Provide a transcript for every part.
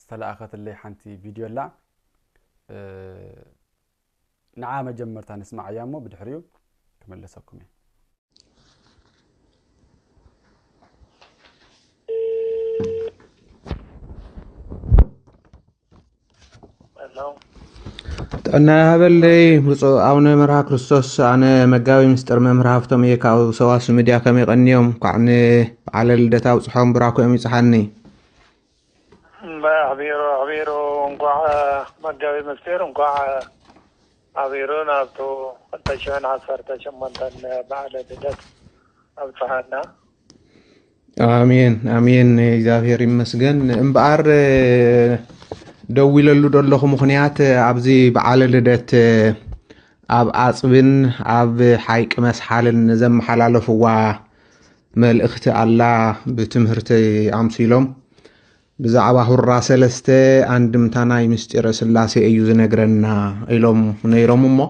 ዝተላኣኸትለይ ሓንቲ ቪድዮ ኣላ ንዓ መጀመርታ ንስማዓያ እሞ ብድሕሪኡ ክምለሰኩም እየ ጥዕና ሃበለይ ብፁዕ ኣቡነ መርሃ ክርስቶስ ኣነ መጋቢ ምስጢር መምህር ሃፍቶም እየ ካብ ሰዋስ ሚድያ ከመይ ቀንዮም ኳዕ ንበዓለ ልደታ ኣብፅሖም ብራኮኦም ይፅሓኒ እምባየ ኣሕቢሩ ኣሕቢሩ እንኳዕ መጋቢት ምስጢር እንኳዕ ኣሕቢሩ ናብቱ ክልተ ሽሕን ዓሰርተ ሸሞንተን በዓለ ልደት ኣብጽሓና። ኣሜን ኣሜን እግዚኣብሔር ይመስገን እምበኣር ደዊለሉ ደለኹ ምኽንያት ኣብዚ በዓለ ልደት ኣብ ኣፅብን ኣብ ሓይቂ መስሓልን ዘመሓላለፍዋ መልእኽቲ ኣላ ብትምህርተይ ኣምሲሎም ብዛዕባ ሁራ ሰለስተ ኣንድምታ ናይ ምስጢረ ስላሴ እዩ ዝነግረና ኢሎም ነይሮም እሞ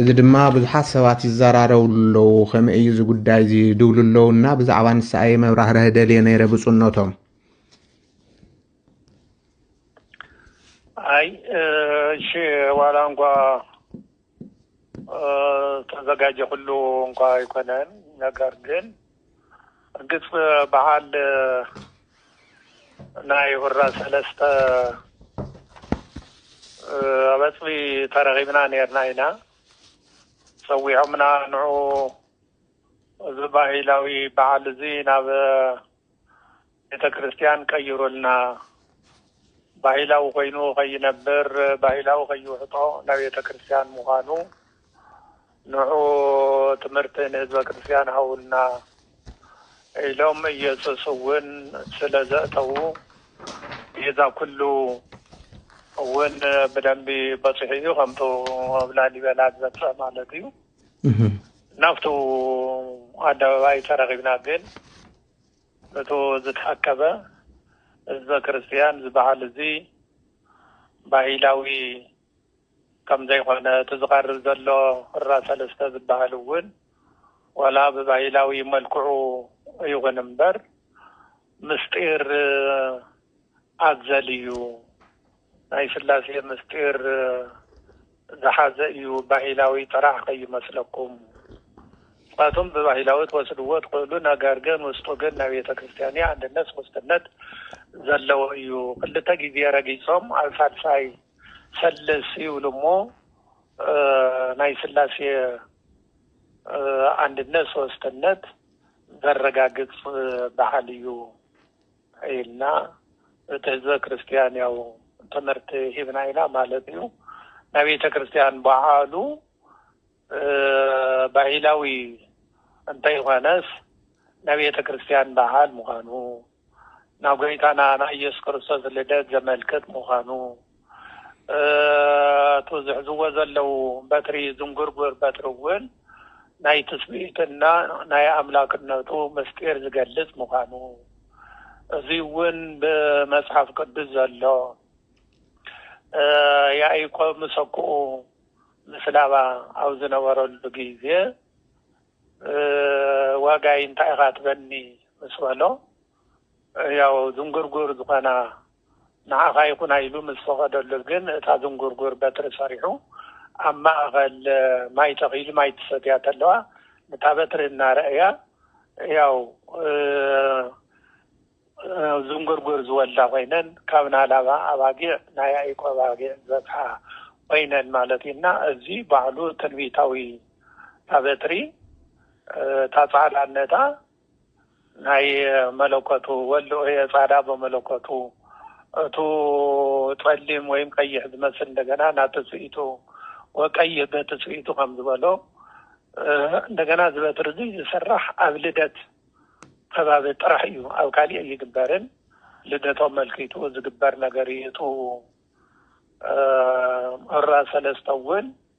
እዚ ድማ ብዙሓት ሰባት ይዘራረብሉ ኣለዉ ከመይ እዩ እዚ ጉዳይ እዚ ድብሉ ኣለዉ እና ብዛዕባ ንሳ እየ መብራህርህ ደልየ ነይረ ብፁነቶም ኣይ እሺ ዋላ እንኳ ተዘጋጀ ኩሉ እንኳ ኣይኮነን ነገር ግን እርግፅ በዓል ናይ ሁራ ሰለስተ ኣብ ኣፅቢ ተረኺብና ነርና ኢና ፀዊዖምና ንዑ እዚ ባህላዊ በዓል እዚ ናብ ቤተ ክርስቲያን ቀይሩልና ባህላዊ ኮይኑ ከይነብር ባህላዊ ከይውሕጦ ናብ ቤተ ክርስቲያን ምዃኑ ንዑ ትምህርቲ ንህዝበ ክርስቲያን ሃውልና ኢሎም ኢየሱስ እውን ስለ ዘእተዉ ቤዛ ኩሉ እውን ብደንቢ በፂሑ እዩ ከምቱ ኣብ ላሊበላ ዝበፅሐ ማለት እዩ። ናብቱ ኣደባባይ ተረኺብና ግን እቱ ዝተኣከበ ህዝበ ክርስትያን ዝበሃል እዚ ባሂላዊ ከምዘይኾነ እቲ ዝቐርብ ዘሎ ሁራ ሰለስተ ዝበሃል እውን ዋላ ብባሂላዊ መልክዑ ይኹን እምበር ምስጢር ኣዘል እዩ። ናይ ስላሴ ምስጢር ዝሓዘ እዩ ባሂላዊ ጥራሕ ከይመስለኩም ምክንያቱም ብባሂላዊ ትወስድዎ ትክእሉ ነገር ግን ውስጡ ግን ናይ ቤተክርስትያን ኣንድነት ሶስትነት ዘለዎ እዩ ክልተ ግዜ ረጊፆም ኣብ ሳልሳይ ፈልስ ይብሉ እሞ ናይ ስላሴ ኣንድነት ሶስትነት ዘረጋግፅ ባዓል እዩ ኢልና እቲ ህዝበ ክርስትያን ያው ትምህርቲ ሂብና ኢና ማለት እዩ ናይ ቤተ ክርስትያን በዓሉ ባህላዊ እንተይኾነስ ናይ ቤተ ክርስትያን በዓል ምዃኑ ናብ ጎይታና ናይ ኢየሱስ ክርስቶስ ልደት ዘመልክት ምዃኑ እቱ ዝሕዝዎ ዘለዉ በትሪ ዝንጉርጉር በትሪ እውን ናይ ትስብእትና ናይ ኣምላክነቱ ምስጢር ዝገልፅ ምዃኑ እዙይ እውን ብመፅሓፍ ቅዱስ ዘሎ ያኢቆብ ምሰኩኡ ምስላባ ኣብ ዝነበረሉ ግዜ ዋጋይ እንታይ ኢኻ ትበኒ ምስ በሎ ያው ዝንጉርጉር ዝኾና ንዓኻ ይኹና ኢሉ ምስ ፈቐደሉ ግን እታ ዝንጉርጉር በትሪ ሰሪሑ ኣብ ማእኸል ማይ ተኺሉ ማይ ትሰትያ ተለዋ ንታ በትሪ እናረእያ ያው ዝንጉርጉር ዝወልዳ ኮይነን ካብ ናላባ ኣባጊዕ ናይ ያኢቆብ ኣባጊዕ ዝበፅሓ ኮይነን ማለት እዩ እና እዚ ባዕሉ ትንቢታዊ እታ በትሪ እታ ፃዕዳነታ ናይ መለኮቱ ወልድ ኦየ ጻዳ በመለኮቱ እቱ ጸሊም ወይም ቀይሕ ዝመስል እንደገና ናትስኢቱ ወቀይህ በትስኢቱ ከም ዝበሎ እንደገና ዝበትሪ እዙይ ዝስራሕ ኣብ ልደት ከባቢ ጥራሕ እዩ ኣብ ካሊእ ኣይግበርን ልደቶም መልኪቱ ዝግበር ነገር እዩ እቱ ዑራ ሰለስተ እውን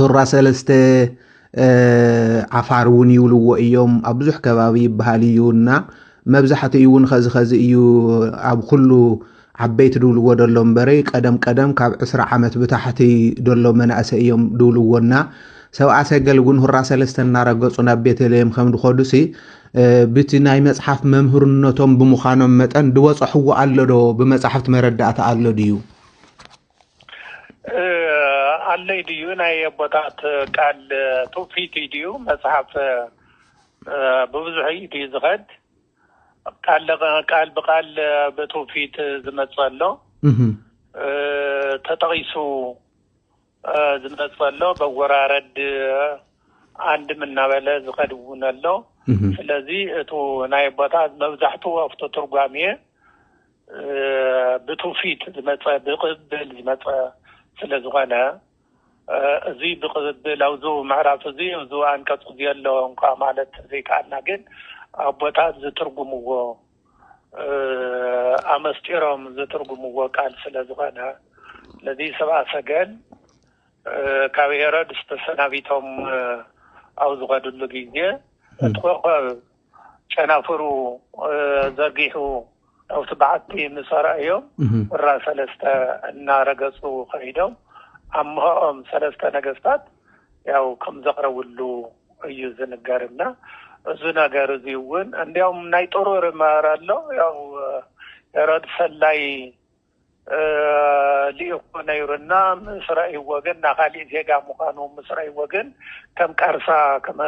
ሁራ ሰለስተ ዓፋር እውን ይብልዎ እዮም ኣብ ብዙሕ ከባቢ ይበሃል እዩ እና መብዛሕትኡ እውን ኸዚ ኸዚ እዩ ኣብ ኩሉ ዓበይቲ ድብልዎ ደሎ እምበሪ ቀደም ቀደም ካብ ዕስራ ዓመት ብታሕቲ ደሎ መናእሰ እዮም ድብልዎ እና ሰብኣ ሰገል እውን ሁራ ሰለስተ እናረገፁ ናብ ቤተልሔም ከም ድኸዱሲ ብቲ ናይ መፅሓፍ መምህርነቶም ብምዃኖም መጠን ድበፅሕዎ ኣሎ ዶ ብመፃሕፍቲ መረዳእታ ኣሎ ድዩ? ኣለይ ድዩ ናይ ኣቦታት ቃል ትውፊት እዩ ድዩ መፅሓፍ ብብዙሕ እዩ ድዩ ዝኸድ ቃል ብቃል ብትውፊት ዝመፅ ኣሎ ተጠቒሱ ዝመፅ ኣሎ በወራረድ ኣንድም እናበለ ዝኸድ እውን ኣሎ ስለዚ እቱ ናይ ኣቦታት መብዛሕትኡ ኣብቲ ትርጓሜ ብትውፊት ዝመፀ ብቅብል ዝመፀ ስለዝኾነ እዚ ብቅብል ኣብዚ ምዕራፍ እዚ እዚ ኣንቀፅ እዚ ኣሎ እንኳ ማለት ዘይከኣልና ግን ኣቦታት ዝትርጉምዎ ኣመስጢሮም ዝትርጉምዎ ቃል ስለዝኾነ ነዚ ሰብኣ ሰገል ካብ ሄሮድስ ተሰናቢቶም ኣብ ዝኸድሉ ግዜ እቲ ኮኸብ ጨናፍሩ ዘርጊሑ ኣብቲ በዓቲ ምስ ኣርኣዮም ሁራ ሰለስተ እናረገፁ ከይዶም ኣምሀኦም ሰለስተ ነገስታት ያው ከምዘቕረብሉ እዩ ዝንገር እና እዚ ነገር እዚ እውን እንዲያውም ናይ ጥሩር ማር ኣሎ ያው ሄሮድ ሰላይ ልኢኹ ነይሩ እና ምስ ረእይዎ ግን እና ካሊእ ዜጋ ምዃኑ ምስ ረእይዎ ግን ከም ቃርሳ ከም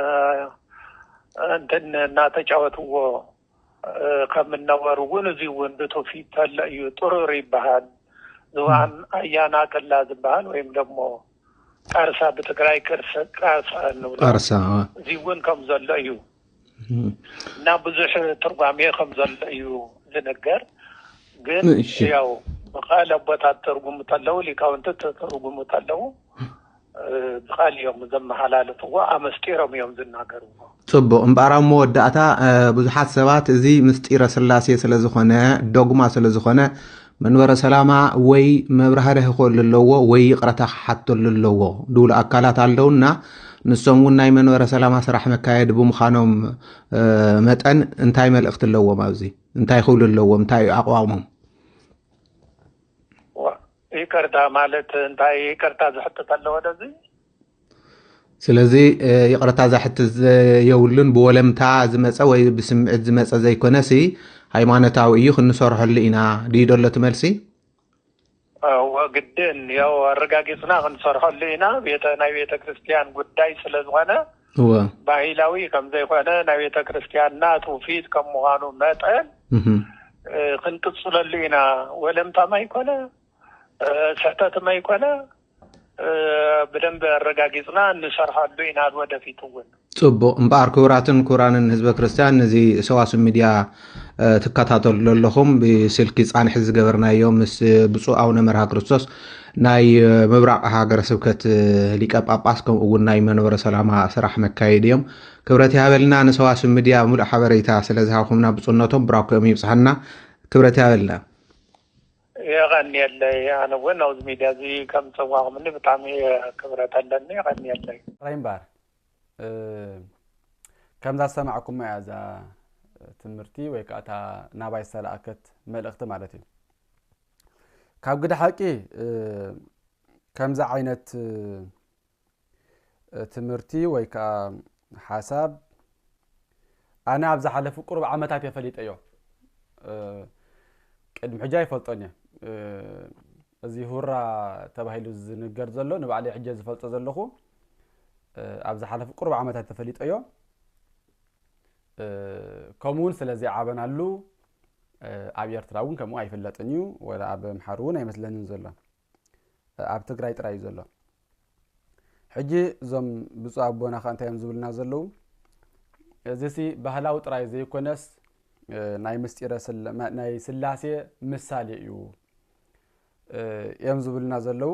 እንትን እናተጫወትዎ ከም እነበሩ እውን እዚ እውን ብትውፊት ተሎ እዩ ጥሩር ይበሃል ዝባን ኣያና ቅላ ዝበሃል ወይም ደግሞ ቃርሳ ብትግራይ ቃርሳ እንብሎ እዚ እውን ከም ዘሎ እዩ እና ብዙሕ ትርጓሜ ከም ዘሎ እዩ ዝንገር ግን ያው ብቃል ኣቦታት ትርጉሙ ተለው ሊቃውንቲ ትርጉሙ ተለው ብቃል እዮም ዘመሓላልፍዎ ኣመስጢሮም እዮም ዝናገርዎ ጽቡቕ እምበኣር ኣብ መወዳእታ ብዙሓት ሰባት እዚ ምስጢረ ስላሴ ስለ ዝኾነ ዶግማ ስለ ዝኾነ መንበረ ሰላማ ወይ መብራህርህ ክኸሉ ኣለዎ ወይ ይቕረታ ክሓተሉ ኣለዎ ድብሉ ኣካላት ኣለውና ንሶም እውን ናይ መንበረ ሰላማ ስራሕ መካየዲ ብምዃኖም መጠን እንታይ መልእኽቲ ኣለዎም ኣብዚ እንታይ ክብሉ ኣለዎም እንታይ እዩ ኣቕዋሞም ይቅርታ ማለት እንታይ ይቅርታ ዝሕትት ኣለዎ ደዚ ስለዚ ይቕረታ ዛሕቲ የብሉን ብወለምታ ዝመፀ ወይ ብስምዒት ዝመፀ ዘይኮነ ሲ ሃይማኖታዊ እዩ ክንሰርሐሉ ኢና ድዩ ደሎ እቲ መልሲ ግድን ያው ኣረጋጊፅና ክንሰርሐሉ ኢና ቤተ ናይ ቤተ ክርስቲያን ጉዳይ ስለ ዝኾነ ባህላዊ ከም ዘይኮነ ናይ ቤተ ክርስቲያንና ትውፊት ከም ምዃኑ መጠን ክንቅፅለሉ ኢና ወለምታ ማይኮነ ስሕተት ማይኮነ ብደንቢ ኣረጋጊጽና ንሰርሐሉ ኢና ወደፊት እውን። ጽቡቕ እምበኣር ክቡራትን ክቡራንን ህዝበ ክርስትያን ነዚ ሰዋስብ ሚድያ ትከታተሉ ዘለኹም ብስልኪ ፃንሒ ዝገበርናዮ ምስ ብፁዕ ኣውነ መርሃ ክርስቶስ ናይ ምብራቕ ሃገረ ስብከት ሊቀ ጳጳስ ከምኡ እውን ናይ መንበረ ሰላማ ስራሕ መካየዲ እዮም ክብረት ይሃበልና ንሰዋስብ ሚድያ ሙሉእ ሓበሬታ ስለዝሃብኩምና ብፁዕነቶም ብራኮኦም ይብፅሐና ክብረት ይሃበልና የቐንየለይ ኣነ ውን ናብዚ ሚድያ እዚ ከም ፀዋዕኹምኒ ብጣዕሚ እየ ክብረት ኣለኒ የቐንየለይ። ጥራይ እምበኣር ከምዛ ዝሰማዕኩማ እያ እዛ ትምህርቲ ወይ ከዓ እታ ናባይ ዝተላእከት መልእኽቲ ማለት እዩ። ካብ ግደ ሓቂ ከምዚ ዓይነት ትምህርቲ ወይ ከኣ ሓሳብ ኣነ ኣብ ዝሓለፉ ቅሩብ ዓመታት እየ ፈሊጠዮ ቅድሚ ሕጂ ኣይፈልጦን እየ እዚ ሁራ ተባሂሉ ዝንገር ዘሎ ንባዕለይ ሕጂ ዝፈልጦ ዘለኹ ኣብ ዝሓለፉ ቅሩብ ዓመታት ተፈሊጠዮ ከምኡ እውን ስለ ዘይዓበናሉ ኣብ ኤርትራ እውን ከምኡ ኣይፍለጥን እዩ ወላ ኣብ ኣምሓሩ እውን ኣይመስለንን ዘሎ ኣብ ትግራይ ጥራይ እዩ ዘሎ ሕጂ እዞም ብፁዕ ኣቦና ከ እንታይ እዮም ዝብሉና ዘለዉ እዚ ሲ ባህላዊ ጥራይ ዘይኮነስ ናይ ምስጢረ ናይ ስላሴ ምሳሌ እዩ እዮም ዝብሉና ዘለዉ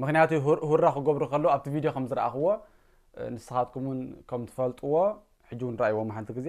ምክንያቱ ሁራ ክገብሩ ከለዉ ኣብቲ ቪድዮ ከም ዝረኣኽዎ ንስኻትኩም እውን ከም ትፈልጥዎ ሕጂ እውን ረኣይዎም ሓንቲ ግዜ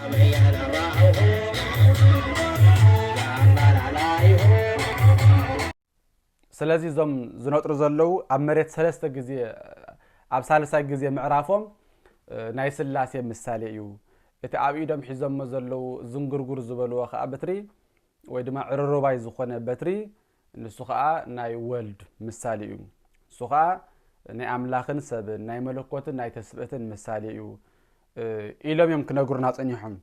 ስለዚ እዞም ዝነጥሩ ዘለዉ ኣብ መሬት ሰለስተ ግዜ ኣብ ሳልሳይ ግዜ ምዕራፎም ናይ ስላሴ ምሳሌ እዩ እቲ ኣብ ኢዶም ሒዞሞ ዘለዉ ዝንጉርጉር ዝበልዎ ከዓ በትሪ ወይ ድማ ዕርሩባይ ዝኾነ በትሪ ንሱ ኸኣ ናይ ወልድ ምሳሌ እዩ። ንሱ ኸኣ ናይ ኣምላኽን ሰብን፣ ናይ መለኮትን ናይ ተስብእትን ምሳሌ እዩ ኢሎም እዮም ክነግሩና ጸኒሖም።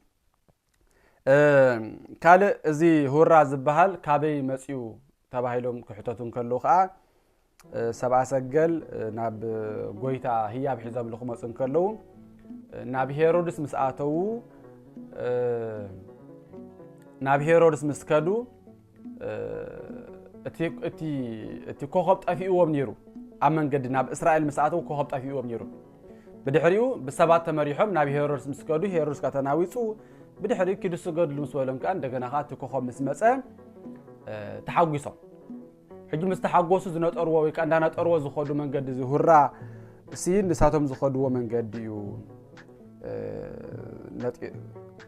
ካልእ እዚ ሁራ ዝበሃል ካበይ መጺኡ ተባሂሎም ክሕተቱ እንከለዉ ኸኣ ሰብኣ ሰገል ናብ ጎይታ ህያብ ሒዞምሉ ክመፁ እንከለዉ ናብ ሄሮድስ ምስ ኣተዉ ናብ ሄሮድስ ምስ ከዱ እቲ ኮኸብ ጠፊእዎም ነይሩ ኣብ መንገዲ ናብ እስራኤል ምስ ኣተዉ ኮኸብ ጠፊእዎም ነይሩ ብድሕሪኡ ብሰባት ተመሪሖም ናብ ሄሮድስ ምስ ከዱ ሄሮድስ ካ ተናዊፁ ብድሕሪኡ ኪዱ ስገድሉ ምስ በሎም ከዓ እንደገና ከዓ እቲ ኮኸብ ምስ መፀ ተሓጒሶም ሕጂ ምስ ተሓጎሱ ዝነጠርዎ ወይ ከኣ እንዳነጠርዎ ዝኸዱ መንገዲ እዚ ሁራ እሲ ንሳቶም ዝኸድዎ መንገዲ እዩ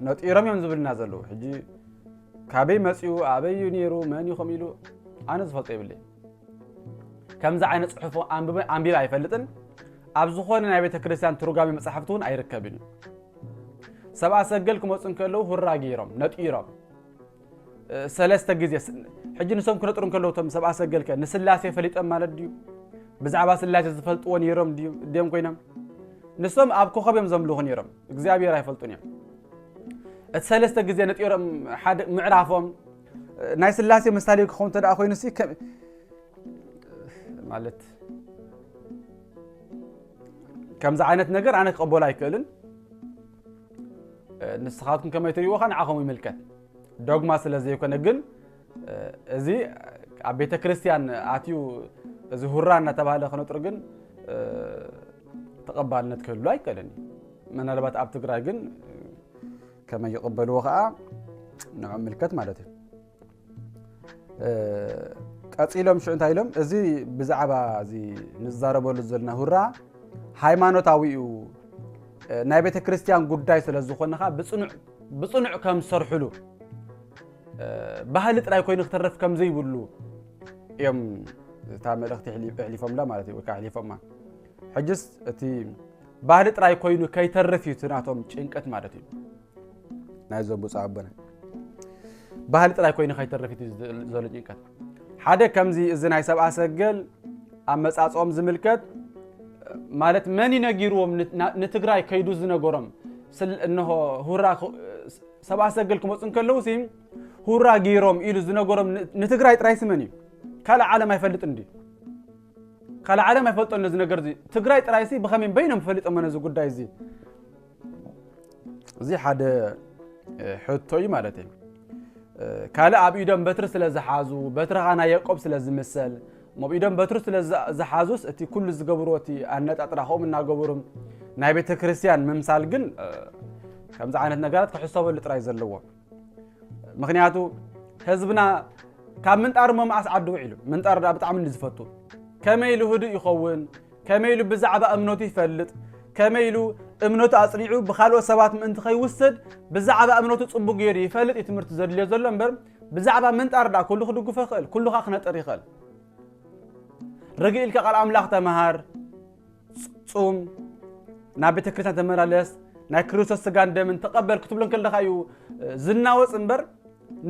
ነጢሮም እዮም ዝብልና ዘለዉ ሕጂ ካበይ መፅኡ ኣበይ እዩ ነይሩ መን እዩ ከምኡ ኢሉ ኣነ ዝፈልጦ ይብለይ ከምዚ ዓይነት ፅሑፍ ኣንቢበ ኣይፈልጥን ኣብ ዝኾነ ናይ ቤተ ክርስቲያን ትርጓሜ መፅሓፍቲ እውን ኣይርከብን እዩ ሰብኣ ሰገል ክመፁ እንከለዉ ሁራ ገይሮም ነጢሮም ሰለስተ ግዜ ስለ ሕጂ ንሶም ክነጥሩ እንከለዉ እቶም ሰብኣ ሰገል ከ ንስላሴ ፈሊጦም ማለት ድዩ ብዛዕባ ስላሴ ዝፈልጥዎ ነይሮም ድዩ ድዮም ኮይኖም ንሶም ኣብ ኮኸብ እዮም ዘምልኹ ነይሮም እግዚኣብሔር ኣይፈልጡን እዮም እቲ ሰለስተ ግዜ ነጢሮም ሓደ ምዕራፎም ናይ ስላሴ ምሳሌ ክኸውን እንተ ኮይኑ ሲ ማለት ከምዚ ዓይነት ነገር ኣነ ክቐበሎ ኣይክእልን ንስኻትኩም ከመይ ትርእይዎ ከ ንዓኹም ይምልከት ዶግማ ስለ ዘይኮነ ግን እዚ ኣብ ቤተ ክርስቲያን ኣትዩ እዚ ሁራ እናተባህለ ክነጥሩ ግን ተቐባልነት ክህሉ ኣይከልን እዩ ምናልባት ኣብ ትግራይ ግን ከመይ ይቕበልዎ ከዓ ንዑ ምልከት ማለት እዩ ቀፂሎም ሽዑ እንታይ ኢሎም እዚ ብዛዕባ እዚ ንዛረበሉ ዘለና ሁራ ሃይማኖታዊ እዩ ናይ ቤተ ክርስቲያን ጉዳይ ስለ ዝኾነ ከዓ ብፅኑዕ ከም ዝሰርሕሉ ባህሊ ጥራይ ኮይኑ ክተረፍ ከም ዘይብሉ እዮም እታ መልእኽቲ ኣሕሊፎምላ ማለት እዩ ወይ ከዓ ኣሕሊፎማ ሕጅስ እቲ ባህሊ ጥራይ ኮይኑ ከይተርፍ እዩ እቲ ናቶም ጭንቀት ማለት እዩ ናይዞም ብፁዕ ኣቦና ባህሊ ጥራይ ኮይኑ ከይተርፍ እዩ ዘሎ ጭንቀት ሓደ ከምዚ እዚ ናይ ሰብኣ ሰገል ኣመፃፅኦም ዝምልከት ማለት መን ይነጊርዎም ንትግራይ ከይዱ ዝነገሮም እንሆ ሁራ ሰብኣ ሰገል ክመፁ እንከለዉ ሲ ሁራ ገይሮም ኢሉ ዝነገሮም ንትግራይ ጥራይ ስመን እዩ ካልእ ዓለም ኣይፈልጥን ድዩ ካልእ ዓለም ኣይፈልጦን እዚ ነገር እዚ ትግራይ ጥራይ ሲ ብኸመይ በይኖም ፈሊጦሞ ነዚ ጉዳይ እዚ እዚ ሓደ ሕቶ እዩ ማለት እዩ ካልእ ኣብ ኢዶም በትሪ ስለ ዝሓዙ በትርኻ ናይ የቆብ ስለ ዝምሰል እሞ ኣብ ኢዶም በትሪ ስለ ዝሓዙስ እቲ ኩሉ ዝገብርዎ እቲ ኣነጣጥራ ከምኡ እናገበሩ ናይ ቤተ ክርስቲያን ምምሳል ግን ከምዚ ዓይነት ነገራት ክሕሰበሉ ጥራይ ዘለዎ ምክንያቱ ህዝብና ካብ ምንጣር እሞ መዓስ ዓዲ ውዒሉ ምንጣር ዳ ብጣዕሚ እንዲ ዝፈቱ ከመይ ኢሉ ህዱእ ይኸውን ከመይ ኢሉ ብዛዕባ እምነቱ ይፈልጥ ከመይ ኢሉ እምነቱ ኣፅኒዑ ብካልኦት ሰባት ምእንቲ ከይውሰድ ብዛዕባ እምነቱ ፅቡቅ ገይሩ ይፈልጥ እዩ ትምህርቲ ዘድልዮ ዘሎ እምበር ብዛዕባ ምንጣር ዳ ኩሉ ክድግፎ ይኽእል ኩሉ ከዓ ክነጥር ይኽእል ርግእ ኢልካ ቃል ኣምላኽ ተምሃር ጹም ናብ ቤተ ክርስቲያን ተመላለስ ናይ ክርስቶስ ስጋን ደምን ተቐበል ክትብሎ ከለካ እዩ ዝናወፅ እምበር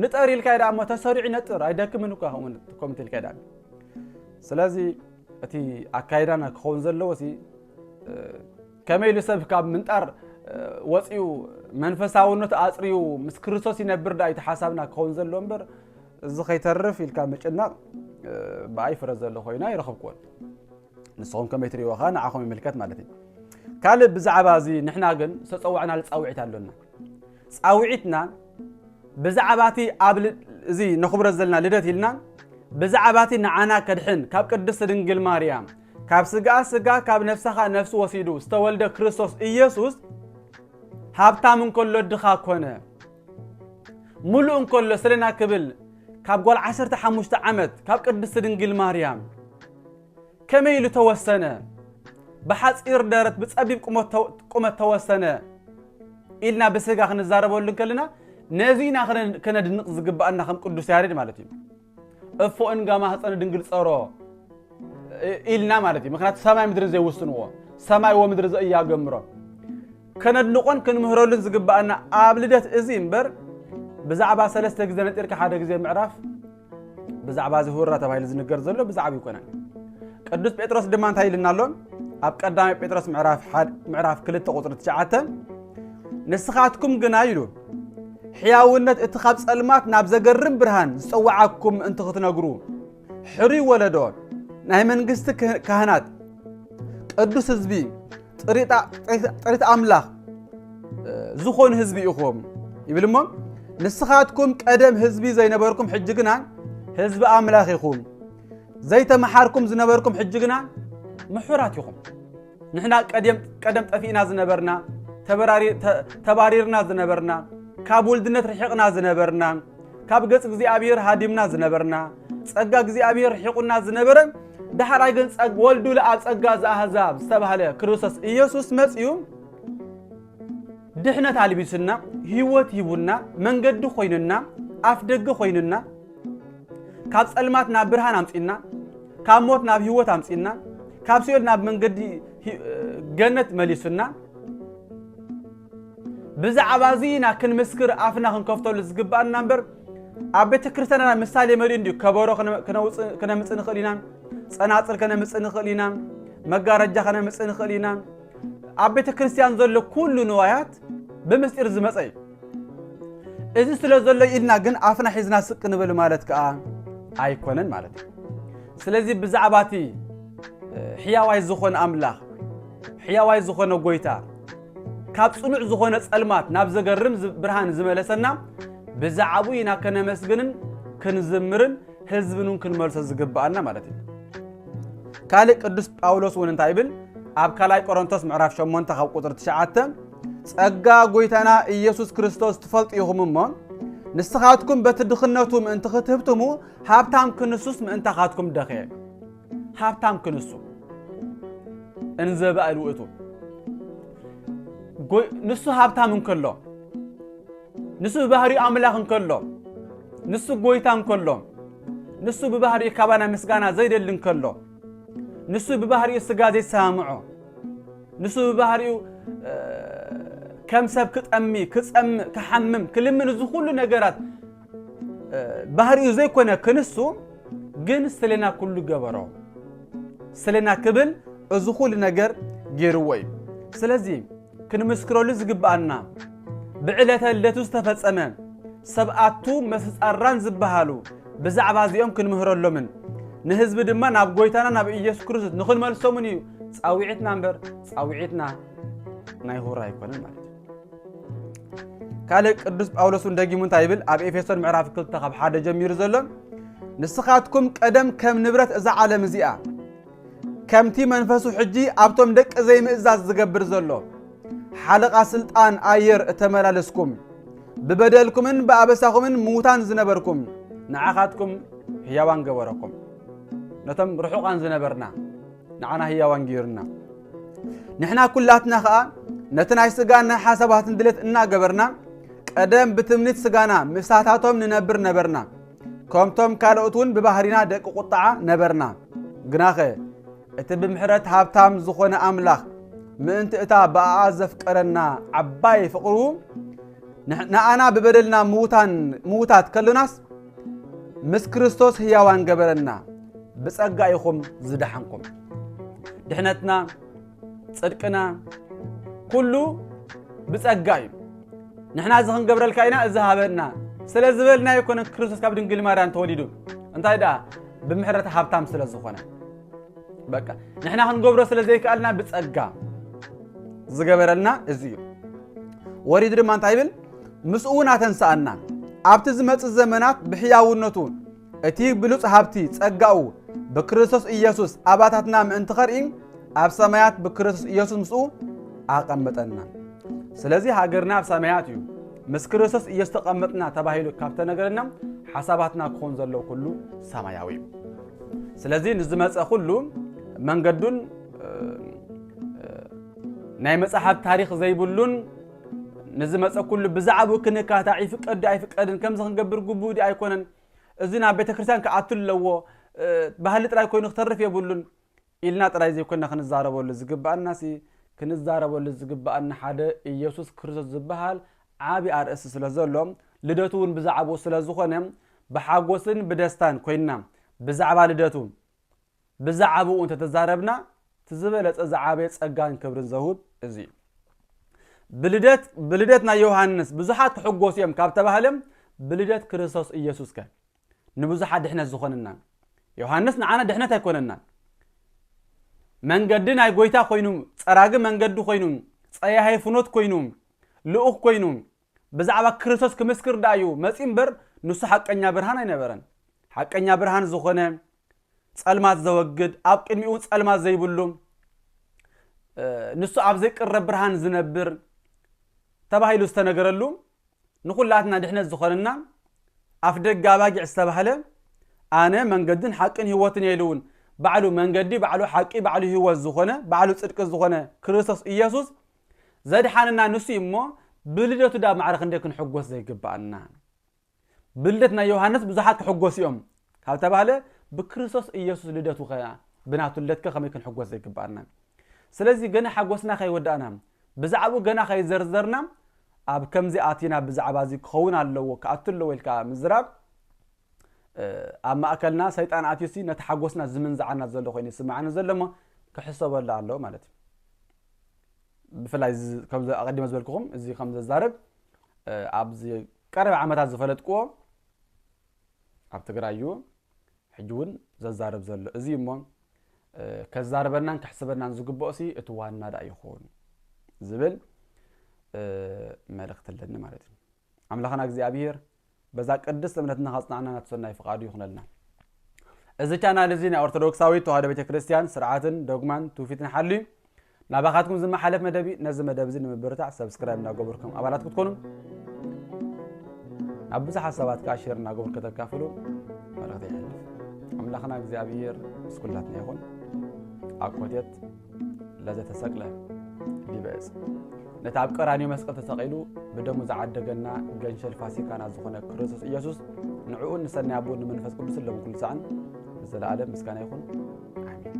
ንጠር ኢልካ ዳ እሞ ተሰሪዑ ይነጥር ኣይደክምን እኳ ከምኡ ኢልካ ዳ ስለዚ እቲ ኣካይዳና ክኸውን ዘለዎ ሲ ከመይ ኢሉ ሰብ ካብ ምንጣር ወፂኡ መንፈሳውነት ኣፅርዩ ምስ ክርስቶስ ይነብር ዳ እቲ ሓሳብና ክኸውን ዘለዎ እምበር እዚ ከይተርፍ ኢልካ ምጭናቕ ብኣይ ፍረ ዘሎ ኮይና ይረኸብክዎን ንስኹም ከመይ ትሪእዎ ከ ንዓኹም ይምልከት ማለት እዩ ካልእ ብዛዕባ እዚ ንሕና ግን ዝተፀዋዕናሉ ፃውዒት ኣሎና ፃውዒትና ብዛዕባ እቲ ኣብ እዚ ነኽብሮ ዘለና ልደት ኢልና ብዛዕባ እቲ ንዓና ከድሕን ካብ ቅድስቲ ድንግል ማርያም ካብ ስጋ ስጋ ካብ ነፍሰኻ ነፍሲ ወሲዱ ዝተወልደ ክርስቶስ ኢየሱስ ሃብታም እንከሎ ድኻ ኮነ ምሉእ እንከሎ ስለና ክብል ካብ ጓል ዓሰርተ ሓሙሽተ ዓመት ካብ ቅድስቲ ድንግል ማርያም ከመይ ኢሉ ተወሰነ? ብሓፂር ደረት ብፀቢብ ቁመት ተወሰነ ኢልና ብስጋ ክንዛረበሉ እንከለና ነዚ ኢና ከነድንቕ ዝግባኣና ከም ቅዱስ ያሬድ ማለት እዩ። እፎ እንጋ ማህፀነ ድንግል ፀሮ ኢልና ማለት እዩ ምክንያቱ ሰማይ ምድርን ዘይውስንዎ ሰማይ ወምድሪ ዘእያገምሮ ከነድንቆን ክንምህረሉን ዝግባኣና ኣብ ልደት እዚ እምበር ብዛዕባ ሰለስተ ግዜ ነጢርካ ሓደ ግዜ ምዕራፍ ብዛዕባ እዚ ሁራ ተባሂሉ ዝንገር ዘሎ ብዛዕባ ይኮነን ቅዱስ ጴጥሮስ ድማ እንታይ ኢልና ኣሎ ኣብ ቀዳማይ ጴጥሮስ ምዕራፍ ክልተ ቁፅሪ ትሽዓተ ንስኻትኩም ግና ኢሉ ሕያውነት እቲ ኻብ ጸልማት ናብ ዘገርም ብርሃን ዝጸውዓኩም ምእንቲ ኽትነግሩ ሕሩይ ወለዶ ናይ መንግስቲ ካህናት ቅዱስ ህዝቢ ጥሪት ኣምላኽ ዝኾኑ ህዝቢ ኢኹም ይብል እሞ ንስኻትኩም ቀደም ህዝቢ ዘይነበርኩም ሕጂ ግና ህዝቢ ኣምላኽ ኢኹም ዘይተመሓርኩም ዝነበርኩም ሕጂ ግና ምሑራት ኢኹም ንሕና ቀድም ቀደም ጠፊእና ዝነበርና ተበራሪ- ተ- ተባሪርና ዝነበርና ካብ ውልድነት ርሒቕና ዝነበርና ካብ ገጽ እግዚኣብሔር ሃዲምና ዝነበርና ጸጋ እግዚኣብሔር ርሒቑና ዝነበረ ዳሕራይ ግን ጸግ ወልዱ ለኣብ ጸጋ ዘኣህዛብ ዝተባህለ ክርስቶስ ኢየሱስ መጺኡ ድሕነት ኣልቢሱና ህይወት ሂቡና መንገዲ ኮይኑና ኣፍ ደገ ኮይኑና ካብ ጸልማት ናብ ብርሃን ኣምጺእና ካብ ሞት ናብ ህይወት ኣምጺእና ካብ ሲኦል ናብ መንገዲ ገነት መሊሱና ብዛዕባ እዚ ኢና ክንምስክር ኣፍና ክንከፍተሉ ዝግባኣና እምበር ኣብ ቤተ ክርስትያንና ምሳሌ መሊኡ እንዲዩ ከበሮ ክነምፅእ ንኽእል ኢና ፀናፅል ከነምፅእ ንኽእል ኢና መጋረጃ ከነምፅእ ንኽእል ኢና ኣብ ቤተ ክርስትያን ዘሎ ኩሉ ንዋያት ብምስጢር ዝመፀ እዩ እዚ ስለ ዘሎ ኢልና ግን ኣፍና ሒዝና ስቅ ንበል ማለት ከዓ ኣይኮነን ማለት እዩ ስለዚ ብዛዕባ እቲ ሕያዋይ ዝኾነ ኣምላኽ ሕያዋይ ዝኾነ ጎይታ ካብ ጽኑዕ ዝኾነ ጸልማት ናብ ዘገርም ብርሃን ዝመለሰና ብዛዕቡ ኢና ከነመስግንን ክንዝምርን ህዝብን እውን ክንመልሶ ዝግብኣና ማለት እዩ ካልእ ቅዱስ ጳውሎስ እውን እንታይ ይብል ኣብ ካልኣይ ቆሮንቶስ ምዕራፍ 8 ካብ ቁፅሪ 9 ጸጋ ጐይታና ኢየሱስ ክርስቶስ ትፈልጡ ኢኹም እሞ ንስኻትኩም በቲ ድኽነቱ ምእንቲ ክትህብትሙ ሃብታም ክንሱስ ምእንታኻትኩም ደኸ ሃብታም ክንሱ እንዘ ባእል ውእቱ ንሱ ሃብታም እንከሎ ንሱ ብባህሪ ኣምላኽ እንከሎ ንሱ ጐይታ እንከሎ ንሱ ብባህሪ ካባና ምስጋና ዘይደሊ እንከሎ ንሱ ብባህሪኡ ስጋ ዘይሰማምዖ ንሱ ብባህሪኡ ከም ሰብ ክጠሚ ክጸምእ ክሓምም ክልምን እዚ ኩሉ ነገራት ባህሪኡ ዘይኮነ ክንሱ ግን ስለና ኩሉ ገበሮ ስለና ክብል እዚ ኩሉ ነገር ገይርዎ እዩ ስለዚ ክንምስክረሉ ዝግብኣና ብዕለተ ልደቱ ዝተፈጸመ ሰብኣቱ መስጻራን ዝበሃሉ ብዛዕባ እዚኦም ክንምህረሎምን ንህዝቢ ድማ ናብ ጎይታና ናብ ኢየሱስ ክርስቶስ ንኽንመልሶምን እዩ ጻውዒትና እምበር ጻውዒትና ናይ ሁራ ኣይኮነን ማለት እዩ ካልእ ቅዱስ ጳውሎስ እውን ደጊሙ እንታይ ይብል ኣብ ኤፌሶን ምዕራፍ 2 ካብ ሓደ ጀሚሩ ዘሎ ንስኻትኩም ቀደም ከም ንብረት እዛ ዓለም እዚኣ ከምቲ መንፈሱ ሕጂ ኣብቶም ደቂ ዘይምእዛዝ ዝገብር ዘሎ ሓለቓ ስልጣን ኣየር እተመላለስኩም ብበደልኩምን ብኣበሳኹምን ምዉታን ዝነበርኩም ንዓኻትኩም ህያዋን ገበረኩም ነቶም ርሑቓን ዝነበርና ንዓና ህያዋን ገይሩና ንሕና ኩላትና ኸኣ ነቲ ናይ ስጋን ናይ ሓሳባትን ድሌት እናገበርና ቀደም ብትምኒት ስጋና ምሳታቶም ንነብር ነበርና ከምቶም ካልኦት እውን ብባህሪና ደቂ ቁጥዓ ነበርና። ግናኸ እቲ ብምሕረት ሃብታም ዝኾነ ኣምላኽ ምእንቲ እታ ብኣኣ ዘፍቀረና ዓባይ ፍቕሩ ንኣና ብበደልና ምውታት ከሎናስ ምስ ክርስቶስ ህያዋን ገበረና። ብጸጋ ኢኹም ዝደሓንኩም። ድሕነትና ጽድቅና ኩሉ ብጸጋ እዩ ንሕና እዚ ክንገብረልካ ኢና እዚ ሃበና ስለ ዝበልና ኣይኮነን ክርስቶስ ካብ ድንግል ማርያም ተወሊዱ እንታይ ደኣ ብምሕረት ሃብታም ስለ ዝኾነ በቃ ንሕና ክንገብሮ ስለ ዘይከኣልና ብጸጋ ዝገበረልና እዚ እዩ ወሪዱ ድማ እንታይ ይብል ምስኡ እውን ኣተንስኣና ኣብቲ ዝመፅእ ዘመናት ብሕያውነቱ እቲ ብሉጽ ሃብቲ ጸጋኡ ብክርስቶስ ኢየሱስ ኣባታትና ምእንቲ ኸርኢ ኣብ ሰማያት ብክርስቶስ ኢየሱስ ምስኡ ኣቐመጠና። ስለዚ ሃገርና ኣብ ሰማያት እዩ። ምስ ክርስቶስ ኢየሱስ ተቐመጥና ተባሂሉ ካብ ተነገረና ሓሳባትና ክኾን ዘለዎ ኩሉ ሰማያዊ እዩ። ስለዚ ንዝመፀ ኩሉ መንገዱን ናይ መፅሓፍ ታሪክ ዘይብሉን ንዝመጸ ኩሉ ብዛዕብኡ ክንካታዕ ይፍቀድ ድዩ ኣይፍቀድን ከምዚ ክንገብር ግቡእ ድዩ ኣይኮነን እዚ ናብ ቤተ ክርስቲያን ክኣቱ ኣለዎ ባህሊ ጥራይ ኮይኑ ክተርፍ የብሉን ኢልና ጥራይ ዘይኮንና ክንዛረበሉ ዝግባኣና ሲ ክንዛረበሉ ዝግባኣና ሓደ ኢየሱስ ክርስቶስ ዝበሃል ዓቢ ኣርእስቲ ስለ ዘሎ ልደቱ እውን ብዛዕባኡ ስለ ዝኾነ ብሓጎስን ብደስታን ኮይንና ብዛዕባ ልደቱ ብዛዕብኡ እንተተዛረብና እቲ ዝበለጸ ዝዓበየ ጸጋን ክብርን ዘውህብ እዚ እዩ። ብልደት ብልደት ናይ ዮሃንስ ብዙሓት ክሕጎሱ እዮም ካብ ተባህለም ብልደት ክርስቶስ ኢየሱስ ከ ንብዙሓት ድሕነት ዝኾነናን ዮሃንስ ንዓና ድሕነት ኣይኮነናን መንገዲ ናይ ጎይታ ኮይኑ ጸራጊ መንገዲ ኮይኑ ጸያሄ ፍኖት ኮይኑ ልኡኽ ኮይኑ ብዛዕባ ክርስቶስ ክምስክር ደኣ እዩ መጺኡ እምበር ንሱ ሓቀኛ ብርሃን ኣይነበረን። ሓቀኛ ብርሃን ዝኾነ ጸልማት ዘወግድ ኣብ ቅድሚኡ እውን ጸልማት ዘይብሉ ንሱ ኣብ ዘይቅረብ ብርሃን ዝነብር ተባሂሉ ዝተነገረሉ ንኹላትና ድሕነት ዝኾነና ኣፍ ደገ ኣባጊዕ ዝተባህለ ኣነ መንገድን ሓቅን ህይወትን እየ ኢሉ እውን ባዕሉ መንገዲ ባዕሉ ሓቂ ባዕሉ ህይወት ዝኾነ ባዕሉ ጽድቂ ዝኾነ ክርስቶስ ኢየሱስ ዘድሓነና ንሱ እዩ እሞ ብልደቱ ድኣ ማዕረ ክንደይ ክንሕጎስ ዘይግብኣና። ብልደት ናይ ዮሃንስ ብዙሓት ክሕጎሱ እዮም ካብ ተባህለ ብክርስቶስ ኢየሱስ ልደቱ ከ ብናቱ ልደት ከ ከመይ ክንሕጎስ ዘይግብኣና። ስለዚ ገና ሓጎስና ከይወዳእና ብዛዕብኡ ገና ከይዘርዘርና ኣብ ከምዚ ኣቲና ብዛዕባ እዚ ክኸውን ኣለዎ ክኣቱ ኣለዎ ኢልካ ምዝራብ ኣብ ማእከልና ሰይጣን ኣትዩሲ ነቲ ሓጎስና ዝምንዝዓና ዘሎ ኮይኑ ይስምዓኒ ዘሎ እሞ ክሕሰበሉ ኣለዎ ማለት እዩ። ብፍላይ ከምዚ ኣቐዲመ ዝበልክኹም እዚ ከም ዘዛርብ ኣብዚ ቀረባ ዓመታት ዝፈለጥክዎ ኣብ ትግራይ እዩ ሕጂ እውን ዘዛርብ ዘሎ እዚ እሞ ከዛርበናን ክሕስበናን ዝግብኦ ሲ እቲ ዋና ዳ ይኸውን ዝብል መልእኽቲ ኣለኒ ማለት እዩ ኣምላኽና እግዚኣብሄር በዛ ቅድስት እምነትና ካጽናዕና ናቱ ሰናይ ፍቃዱ ይኹነልና። እዚ ቻናል እዚ ናይ ኦርቶዶክሳዊት ተዋህዶ ቤተ ክርስቲያን ስርዓትን ዶግማን ትውፊትን ሓልዩ ናባኻትኩም ዝመሓለፍ መደብ እዩ። ነዚ መደብ እዚ ንምብርታዕ ሰብስክራይብ እናገበርኩም ኣባላት ክትኮኑ ናብ ብዙሓት ሰባት ከዓ ሼር እናገበሩ ከተካፍሉ መልእኽቲ ይሕልፍ። ኣምላኽና እግዚኣብሄር ምስ ኩላትና ይኹን። ኣኮቴት ለዘተሰቅለ ዲበ ዕፅ ነቲ ኣብ ቀራንዮ መስቀል ተሰቒሉ ብደሙ ዝዓደገና ገንሸል ፋሲካና ዝኾነ ክርስቶስ ኢየሱስ ንዕኡን ንሰናይ ኣቦን ንመንፈስ ቅዱስ ሎም ኩሉ ሰዓን ንዘለኣለም ምስጋና ይኹን ኣሜን።